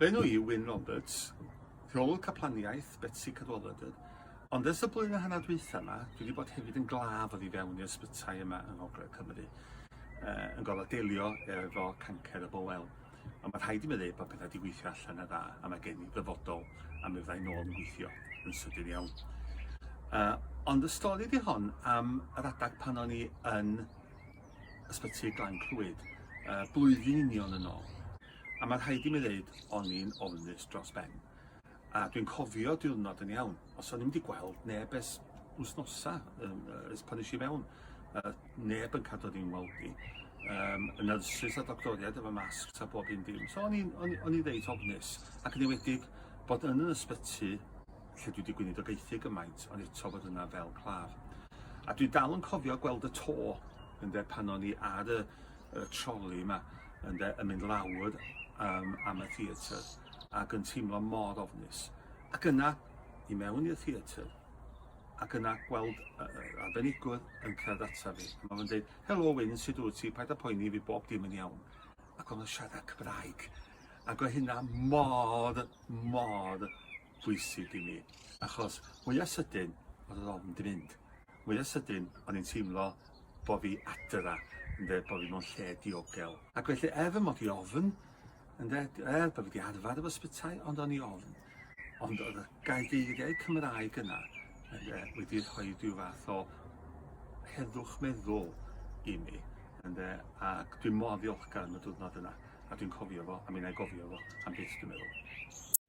Fy enw i yw Wyn Roberts, rheolwr caplaniaeth Betsi Cadwaladr, ond ers y blwyddyn a hanner dwytha yma, dwi wedi bod hefyd yn glaf oddi fewn i'r ysbytai yma yng Ngogledd Cymru, uh, yn gorfod delio efo cancer y bowel. Ond mae rhaid i mi ddweud bod pethau wedi gweithio allan yn dda, a mae gen i ddyfodol am mi fyddai nôl yn gweithio yn sydyn iawn. Uh, ond y stori di hon am yr adag pan o'n i yn ysbyty Glan Clwyd, uh, blwyddyn union yn ôl. A ma' rhaid i mi ddeud, o'n i'n ofnus dros ben. A dwi'n cofio diwrnod yn iawn, os o'n i'm wedi gweld neb ers wsnosa, um, ers pan eisiau mewn, uh, neb yn cadw ddim weld i. Um, y nyrsys a doctoriaid efo masg a bob un dim. So o'n i'n o'n i reit ofnus, ac yn ewedig bod yn yr ysbyty lle dwi wedi gwneud o geithi gymaint, ond eto bod yna fel claf. A dwi dal yn cofio gweld y to ynde, pan o'n i ar y y troli yma ynde yn mynd lawr um, am y theatr ac yn teimlo mor ofnus. Ac yna, i mewn i'r theatr, ac yna gweld uh, arbenigwr yn cerdd ata fi. Mae fe'n dweud, helo Wyn, sut wyt ti, paid â poeni fi bob dim yn iawn. Ac o'n siarad Cymraeg. Ac o hynna mor, mor bwysig i mi. Achos mwyaf sydyn, oedd yr ofn di mynd. Mwya sydyn, o'n i'n teimlo bo' fi adra, ynde, bo' fi mewn lle diogel. Ac felly, er fy mod i ofn, ynde, er bo' fi 'di arfer efo sbytai, ond o'n i ofn. Ond oedd y gaedeiriau Cymraeg yna, ynde, wedi rhoi rhyw fath o heddwch meddwl i mi, ynde, ac dwi mor ddiolchgar am y diwrnod yna, a dwi'n cofio fo, a mi 'na i gofio fo am byth, dwi'n meddwl.